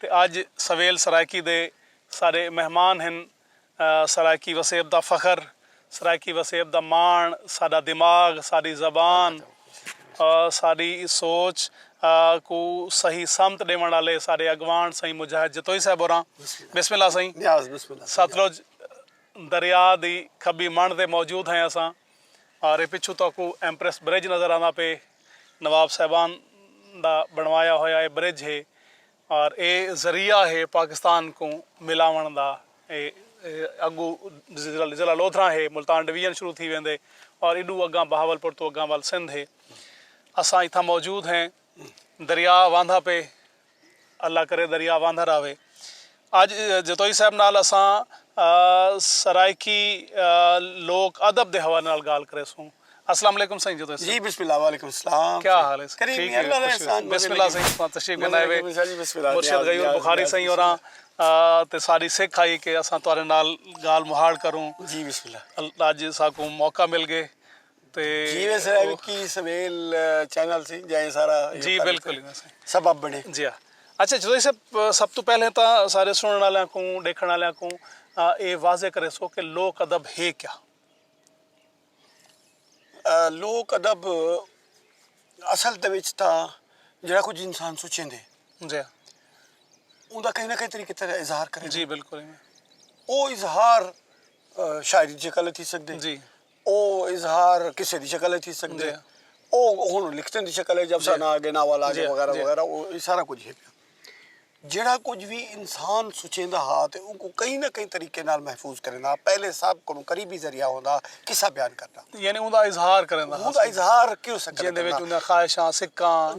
تے اج سویل سرائیکی دے سارے مہمان ہن سرائیکی وسیب دا فخر سرائیکی وسیب دا ماݨ ساݙا دماغ ساݙی زبان ساݙی سوچ کوں صحیح سمت ݙیوݨ آلے ساݙے اڳواݨ سئیں مجاہد جتوئی صاحب ہوراں بسم اللہ سئیں ستلج دریا دی کھٻی مݨ تے موجود ہیں اساں ارے پچھوں تہاکوں ایمپریس برج نظر آندا پئے۔ نواب صاحبان دا بݨوایا ہویا اے برج ہے اور اے ذریعہ ہے پاکستان کوں ملاوݨ دا اے اڳو ضلع لودھراں ہے ملتان ڈویژن شروع تھی ویندے اور ایݙو اڳاں بہاول پور توں اڳاں ول سندھ ہے اساں اتھاں موجود ہیں دریا واندا پے اللہ کرے دریا واندھا راہوے۔ اج جتوئی صاحب نال اساں سرائیکی لوک ادب دے حوالے نال گالھ کریسوں۔ السلام علیکم سئیں جتوئی صاحب۔ جی بسم اللہ وعلیکم السلام۔ کیا حال ہے سئیں؟ ٹھیک ہے۔ بسم اللہ سئیں تساں تشریف گھنائے وے۔ مرشد غیور بخاری سئیں ہوراں تے ساڈی سکھ ہئی کہ اساں تہاڈے نال گالھ مہاڑ کروں۔ جی بسم اللہ۔ اج ساکوں موقع مل گئے۔ جی وے سرائے وکی سویل چینل سی جائیں سارا جی بالکل سبب بنے جی اچھا جدائی صاحب سب تو پہلے تا سارے سنن والیاں کو دیکھن والیاں کو اے واضح کرے سو کہ لوک ادب ہے کیا لوک ادب اصل دے وچ تا جڑا کچھ انسان سوچیں دے جی اون دا کہیں نہ کہیں طریقے تے اظہار کرے جی بالکل او اظہار شاعری جے کل تھی سکدے جی او اظہار قصے دی شکل اچ تھی سگدے ہن۔ او ہن لکھتیں دی شکل اچ افسانہ آ گئے، ناول آ گئے وغیرہ وغیرہ او اے سارا کجھ ہے پیا۔ جیڑھا کجھ وی انسان سوچیندا ہا تے اونکوں کہیں نہ کہیں طریقے نال محفوظ کریندا ہا۔ پہلے سب کنوں قریبی ذریعہ ہوندا ہا قصہ بیان کرݨ دا۔ یعنی اوندا اظہار کرݨ دا۔ اوندا اظہار کیوں سکدے کرݨ دا۔ جیندے وچ اوندیاں خواہشاں، سکاں،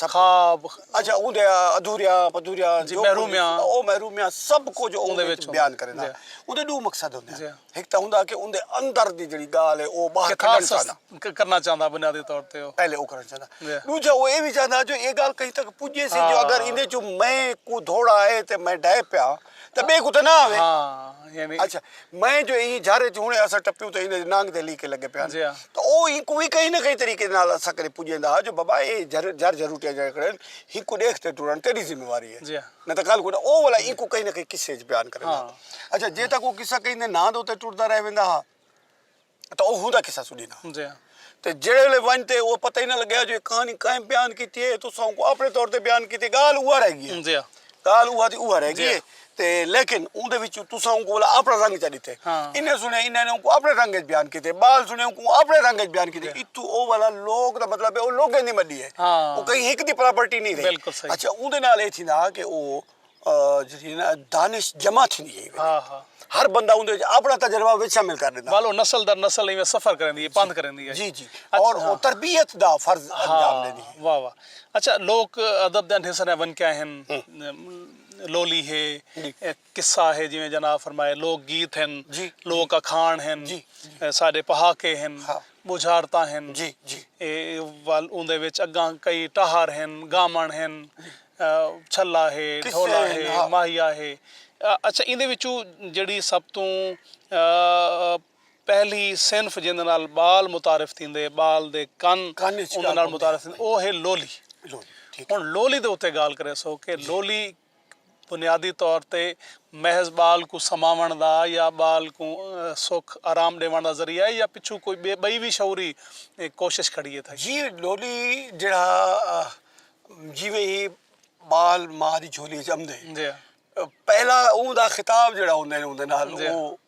خواب۔ اچھا اوندیاں ادھوریاں پدھوریاں۔ جی محرومیاں۔ او محرومیاں سب کجھ اوندے وچ بیان کرݨ دا۔ اوندے ݙو مقصد ہوندے ہن۔ ہک تاں ہوندا کہ اوندے اندر دی جیڑھی ڳالھ ہے او باہر کڈھݨ چاہندا۔ کیتھاسس کرنا چاہندا بنیادی طور تے او۔ پہلے او کرݨ چاہندا۔ جی۔ ݙوجھا او اے وی چاہندا جو اے ڳالھ کہیں تک پڄے سی جو اگر ایندے ہاں۔ چوں میں کوں دھوڑا آئے تے میں ڈھے پیا تاں ٻئے کوں تاں نہ آوے۔ ہاں یعنی۔ اچھا میں جو ایں جھر اچ ہݨے اساں ٹپیوں تاں ایندے نانگ دے لیکے لڳے پئے ہن جی ہاں۔ تاں او اینکوں وی کہیں نہ کہیں طریقے نال اساں کݙے پڄیندا ہا جو بابا اے جھر جھر جھروٹیاں جیڑھے کھڑے ہن ہنکوں ݙیکھ تے ٹرݨ تیݙی ذمہ واری ہے۔ جی ہاں۔ نہ تاں کل کوئی او والا اینکوں کہیں نہ کہیں قصے اچ بیان کریندا ہا۔ اچھا جے تاں کوئی قصہ کہیں دے ناں دے اتے ٹردا رہ ویندا ہا تاں او ہوندا قصہ سݙیندا ہا۔ جی ہاں۔ تے جیڑھے ویلے ونج تے او پتہ ہی نہ لڳیا جو اے کہانی کئیں بیان کیتی اے تساں اونکوں اپݨے طور تے بیان کیتی ڳالھ اوہا رہ ڳی اے۔ جی ہاں۔ ڳالھ اوہا دی اوہا رہ ڳی اے تے لیکن اوندے وچ تساں اونکوں والا اپݨا رنگ چا ݙتے۔ انہیں سݨیا انہاں نے اونکوں اپݨے رنگ اچ بیان کیتے ٻال سݨیا اونکوں اپݨے رنگ اچ بیان کیتے اتھوں او والا لوک دا مطلب اے او لوکیں دی مݙی اے۔ او کہیں ہک دی پراپرٹی نہیں رہی اچھا اون دے نال اے تھیندا کہ او جیڑی نا دانش جمع تھیندی گئی ہر بندہ اون دے وچ اپنا تجربہ وچ شامل کر ݙیندا ولو نسل در نسل ایویں سفر کریندی ہے پندھ کریندی ہے جی جی اور او تربیت دا فرض انجام ݙیندی ہے واہ واہ اچھا لوک ادب دے انٹھے سݙے ونکے ہن لولی ہے قصہ ہے جیویں جناب فرمائے لوک گیت ہن، لوک اکھاݨ ہن، ساݙے پہاکے ہن، ٻجھارتاں ہن، ول اوندے وچ اڳاں کئی ٹہر ہن، ڳامݨ ہن، چھلا ہے، ڈھولا ہے، ماہیا ہے۔ اچھا ایندے وچوں جیڑھی سب توں پہلی صنف جیندے نال ٻال متعارف تھیندے، ٻال دے کن اوندے نال متعارف تھیندے او ہے لولی۔ ہݨ لولی دے اتے ڳالھ کریسوں کہ لولی۔ بنیادی طور تے محض ٻال کوں سماوݨ دا یا ٻال کوں سکھ آرام ݙیوݨ دا ذریعہ ہے یا پچھوں کوئی ٻئے ٻئی وی شعوری کوشش کھڑی اتے۔ جی ݙولی جیڑھا جیویں ہی ٻال ماء دی جھولی اچ امدے جی پہلا اوں دا خطاب جیڑھا ہوندے اوندے نال او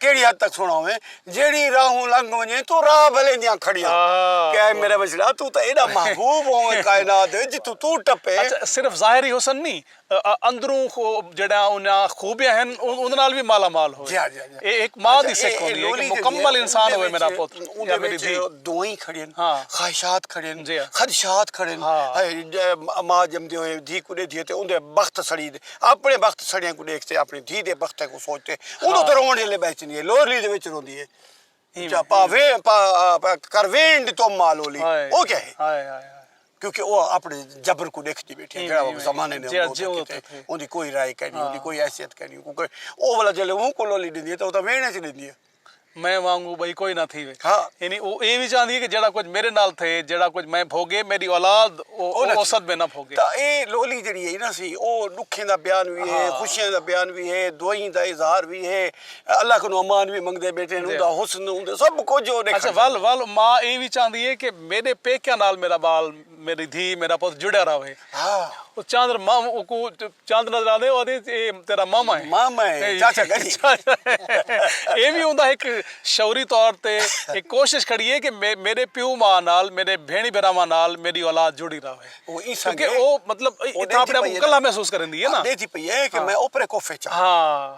کیڑھی حد تک سنڑاویں جیڑھی راہوں لنگھ ونجیں توں راہ بھلیں دیاں کھڑیاں کہ اے میڈا بچڑا توں تاں ایڈا محبوب ہوویں کائنات وچ جتھوں توں ٹپے۔ اچھا صرف ظاہری حسن نی اندروں جیڑھیاں انہاں خوبیاں ہن اوندے نال وی مالا مال ہووے اے ہک ماں دی سکھ ہوندی اے کہ مکمل انسان ہووے میڈا پتر یا میڈی دھی۔ دعائیں کھڑین خواہشات کھڑین خدشات کھڑین ہائے ماں جمدے ہوئے دھی کوں ڈیدھی اے تے اوندے بخت سڑی دے۔ اپݨے بخت سڑیاں کوں ݙیکھ تے اپݨی دھی دے بخت کوں سوچ تے اݙوں تے رووݨ جلے ٻہہ چیندی ہے لولی دے وچ روندی ہے جا پا وین پا کر وین ݙی تم ماں لولی او کیا ہے ہائے ہائے ہائے کیونکہ او اپݨے جبر کوں ݙیکھ دی بیٹھی ہے جیڑھا او زمانے نے جیڑھا جیڑھا او تھے اوندی کوئی رائے کائنی اوندی کوئی حیثیت کائنی او ولا جلے اوں کوں لولی ݙیندی ہے تاں او تاں وین اچ ݙیندی ہے۔ میں وانگوں بئی کوئی نہ تھیوے۔ یعنی او اے وی چاہندی ہے کہ جیڑھا کجھ میڈے نال تھئے، جیڑھا کجھ میں بھوگے، میڈی اولاد او اوسط میں نہ بھوگے۔ تاں اے لولی جیڑھی ہے نا سی او ڈکھیں دا بیان وی ہے، خوشیاں دا بیان وی ہے، دعائیں دا اظہار وی ہے، اللہ کنوں امان وی منگدے بیٹھے ہن، اوندا حسن، اوندا سب کجھ او ڈیکھاندی ہے۔ اچھا ول ول ماء اے وی چاہندی ہے کہ میڈے پیکیاں نال میڈا بال۔ میݙی دھی میݙا پتر جڑیا رہوے۔ او چاندر مام اوکوں چاندر نظر آندے او آندے اے تیݙا ماما ہے۔ ماما ہے چاچا گنی۔ اے وی اوندا ہک شعوری طور تے ہک کوشش کھڑی ہے کہ میݙے پیو ماء نال میݙے بھیݨی بھراواں نال میݙی اولاد جڑی رہوے۔ کیونکہ او مطلب اتھاں اپݨے آپ کوں کلھا محسوس کریندی ہے نا۔ ݙیکھدی پئی ہے کہ میں اوپرے کوفے چاں۔ ہاں۔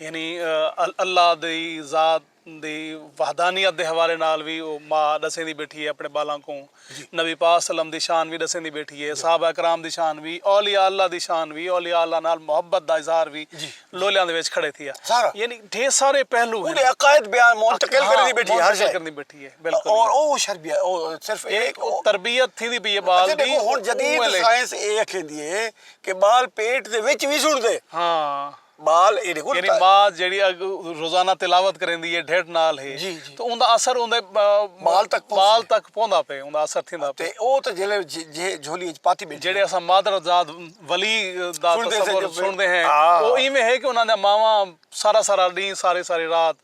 یعنی اللہ دی ذات دی وحدانیت دے حوالے نال وی او ما ݙسیندی ٻیٹھی ہے اپݨے ٻالاں کوں۔ نبی پاک صلی اللہ علیہ وسلم دی شان وی ݙسیندی ٻیٹھی ہے، صحابہ کرام دی شان وی، اولیاء اللہ دی شان وی، اولیاء اللہ نال محبت دا اظہار وی لولیاں دے وچ کھڑے تھیا۔ یعنی ڈھیر سارے پہلو ہن۔ اوندے عقائد بیان منتقل کریندی ٻیٹھی ہے ہر شے۔ کریندی ٻیٹھی ہے بالکل۔ اور او شر بیا او صرف اے او تربیت تھیندی پئی ہے ٻال دی۔ ہن جدید سائنس اے اکھیندی ہے کہ ٻال پیٹ دے وچ وی سݨدے۔ ہاں۔ ٻال ایڈے کول یعنی ماء جیڑھی روزانہ تلاوت کریندی ہے ڈھڈ نال ہی تے اوندا اثر اوندے ٻال تک ٻال تک پوندا پئے اوندا اثر تھیندا پئے تے او تے جیلے جے جھولی وچ پاتی بیٹھی جیڑھے اساں مادر زاد ولی دا تصور سنڑدے ہیں او ایویں ہے کہ انہاں دیاں ماواں سارا سارا ڈینہہ ساری ساری رات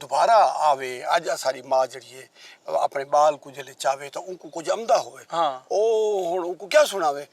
دوبارہ آوے اج اساڈی ماء جیڑھی ہے اپنے بال کوں جلے چاوے تاں اونکوں کجھ امدا ہووے او ہن اونکوں کیا سناوے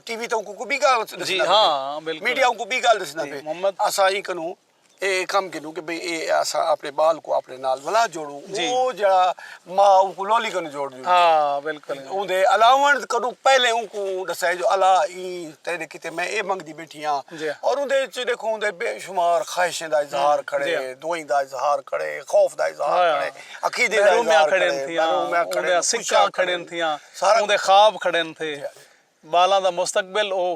ٹی وی تاں اونکوں کوئی بی گال ڈسندا پے میڈیا اونکوں بی گال ڈسندا پے اساں ایں کنوں اے کم گھنوں کہ بھئی اے اساں اپنے بال کوں اپنے نال ولا جوڑوں او جیڑھا ماء اونکوں لولی کنوں جوڑ ݙیندی ہے۔ اوندے الاوݨ کنوں پہلے اونکوں ݙسائے جو الا ایں تیݙے کیتے میں اے منگدی ٻیٹھی ہاں۔ اور اوندے اچ ݙیکھو اوندے بے شمار خواہشیں دا اظہار کھڑے، دعائیں دا اظہار کھڑے، خوف دا اظہار کھڑے، عقیدے دا اظہار کھڑے، محرومیاں کھڑن تھیاں، اوندیاں سکاں کھڑن تھیاں، اوندے خواب کھڑن تھے، ٻالاں دا مستقبل او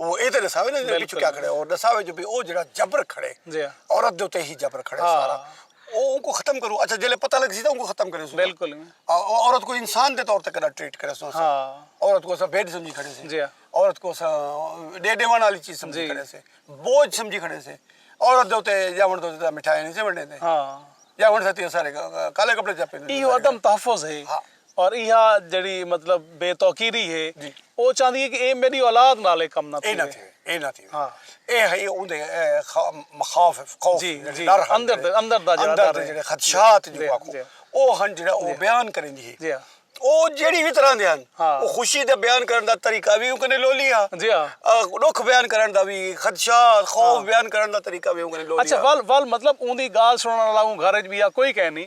او اے تے ݙساوے نا جو پچھوں کیا کھڑے او ݙساوے جو بھئی او جیڑھا جبر کھڑے عورت دے اتے ہی جبر کھڑے سارا او اونکوں ختم کروں اچھا جیلے پتہ لگسی تاں اونکوں ختم کرے سوں بالکل عورت کوں انسان دے طور تے کݙا ٹریٹ کرے سوں اساں عورت کوں اساں بیڈ سمجھی کھڑے سے عورت کوں اساں ݙے ݙیوݨ آلی چیز سمجھی کھڑے سے بوجھ سمجھی کھڑے سے عورت دے اتے ڄاوݨ دے اتے مٹھائیاں نی سے ونڈیندے ڄاوݨ ساتی اساݙے کالے کپڑے چا پیندے ایہو عدم تحفظ ہے اور ایہا جیڑھی مطلب بے توقیری ہے او چاہندی ہے کہ اے میڈی اولاد نال اے کم نہ تھیوے۔ اے نہ تھیوے۔ اے ہئی اوندے مخاوف، خوف، ڈر ہن جیڑھے اندر دا جیڑھے خدشات جیکو آکھوں او ہن جیڑھا او بیان کریندی ہے۔ جی ہاں۔ او جیڑھی وی طرح دے ہن۔ ہاں۔ او خوشی دا بیان کرن دا طریقہ وی اوکنے لولی ہا۔ جی ہاں۔ ڈکھ بیان کرن دا وی خدشات، خوف بیان کرن دا طریقہ وی اوکنے لولی ہا۔ اچھا ول ول مطلب اوندی گال سنڑن آلا اوں گھر اچ وی ہا کوئی کہنی۔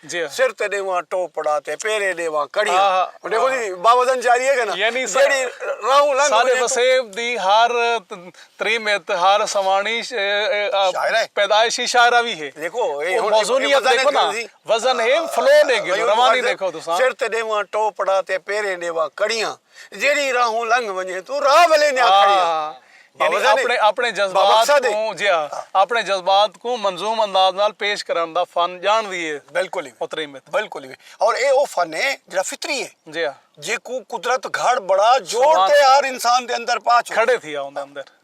سر تے ݙیواں ٹوپڑا تے پیرے ݙیواں کڑیاں ݙیکھو جی باوزن جاری ہے کنا جیڑھی راہوں لنگھ ساݙے وسیب دی ہر تریمت ہر سواݨی پیدائشی شاعرہ وی ہے ݙیکھو موزونیت ݙیکھو نا وزن ہے فلو ݙیکھو روانی ݙیکھو تساں سر تے ݙیواں ٹوپڑا تے پیرے ݙیواں کڑیاں جیڑھی راہوں لنگھ ونجے توں راہ ولے نیا کھڑی ہا۔ یعنی اپنے جذبات کوں جی ہاں اپنے جذبات کوں منظوم انداز نال پیش کرݨ دا فن ڄاݨ دی ہے۔ بالکل محترم بالکل ایویں اور ایہ او فن ہے جیڑھا فطری ہے جی ہاں جیکوں قدرت گھڑ بڑا جوڑ تے ہر انسان دے اندر پا چھوڑ کھڑے تھی آ اوندے اندر۔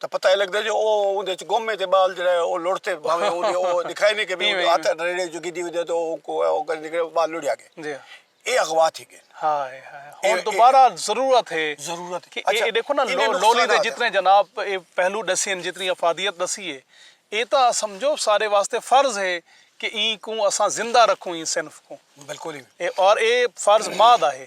تاں پتہ اے لگدے جو او اوندے اچ گم اے تے ٻال جیڑھا اے او لڑھ تے بھانویں اوں دے او ݙکھائے نی کہ بھئی ہتھ ریڑھے اچوں گھدی ہوندی اے تے او اونکوں او کر نکلے او ٻال لڑھیا ڳئے۔ اے اغوا تھی ڳئن۔ ہائے ہائے ہݨ دوبارہ ضرورت ہے کہ اے ݙیکھو نا لولی دے جتنے جناب اے پہلو ݙسے ہن جتنی افادیت ݙسی اے اے تاں سمجھو سارے واسطے فرض ہے کہ ایں کوں اساں زندہ رکھوں ایں صنف کوں۔ بالکل۔ اور اے فرض ماء دا ہے۔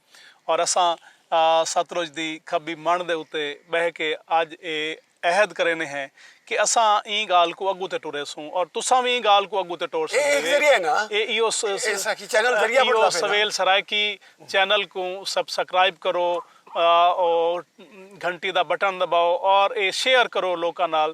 اور اساں ستلج دی کھبی منڑھ دے اتے بہہ کے اج اے عہد کرینے ہیں کہ اساں ایں گالھ کوں اگوں تے ٹریسوں اور تساں وی ایں گالھ کوں اگوں تے ٹور سگدے جے ایہو ایہو سویل سرائیکی چینل کوں سبسکرائب کرو اور گھنٹی دا بٹن دباؤ اور اے شیئر کرو لوکاں نال